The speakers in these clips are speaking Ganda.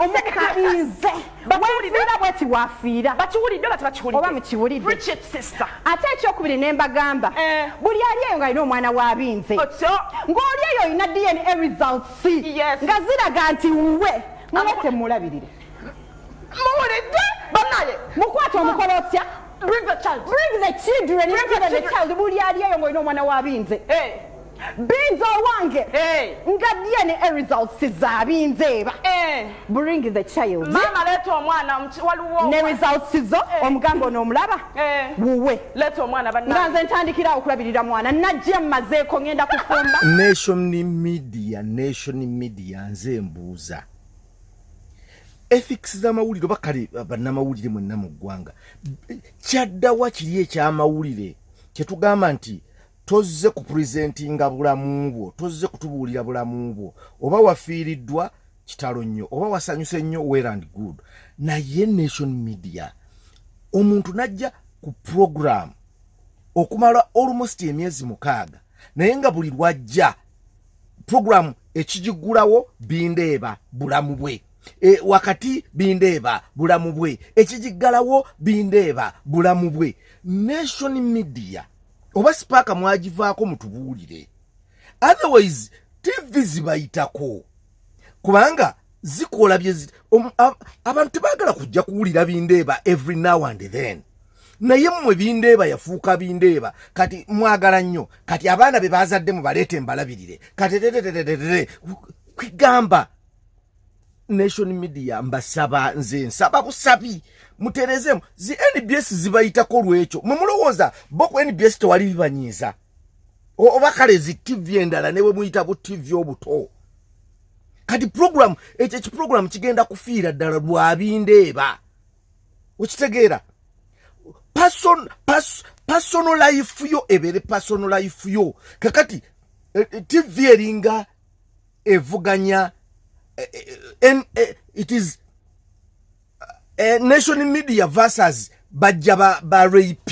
omukabinze wefiira bweti wafiira bakiwulidde bati bakiwulidde oba mukiwulidde ate ekyokubiri ne mbagamba eh. buli ali eyo ng'alina omwana w'abinze ng'oli eyo olina dna results nga ziraga nti wuwe mwe temulabirire muwulidde banaye mukwata omukola otya bring the child bring the children bring the child buli ali eyo ng'olina omwana w'abinze eh. binza owange eh. nga dna results zabinzeeba eh. bring the child mama leta omwana waliwo ne results zo eh. omugamba ono omulaba wuwe leta omwana banna nga nze ntandikira okulabirira mwana najja mmazeeko ngenda kufumba nation media nation media nze mbuuza ethics z'amawulire oba kale bannamawulire mwenna mu ggwanga kyaddawa kiri ekyamawulire kyetugamba nti tozze ku presentinga bulamu bwo tozze kutubuulira bulamu bwo oba wafiiriddwa kitalo nnyo oba wasanyuse nnyo well and good naye nation media omuntu najja ku program okumala almost emyezi mukaaga naye nga buli lwajja program ekigigulawo bindeeba bulamu bwe e, wakati bindeeba bulamu bwe ekigiggalawo bindeeba bulamu bwe nation media oba sipaaka mwagivaako mutubuulire otherwise tv zibayitako kubanga zikola byezi abantu tebagala kujja kuwulira bindeeba every now and then naye mmwe bindeeba yafuuka bindeeba kati mwagala nnyo kati abaana be bazaddemu baleete mbalabirire kati tetetetetetere kwigamba nation media mbasaba nze nsaba busabi muterezemu zi nbs zibayitako lwekyo mwe mulowooza bo ku nbs tewali bibanyiiza oba kale zi tv endala ne bwe muyita bu tv obuto kati program ekyo ekiprogramu kigenda kufiira ddala lwabindeeba okitegeera person, pas, personal life yo ebeere personal life yo kakati eh, eh, tv eringa evuganya eh, eh, eh, it is uh, nation media versus bajja ba, ba rap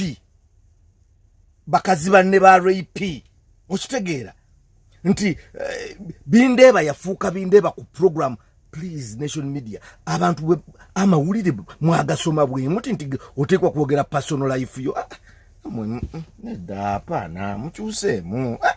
bakazi banne ba rap okitegeera nti eh, bindeeba yafuuka bindeeba ku program please nation media abantu amawulire mwagasoma bwemuti nti oteekwa kwogera personal life yo ah, ah, mm, mm, nedda apaana mukyuseemu ah,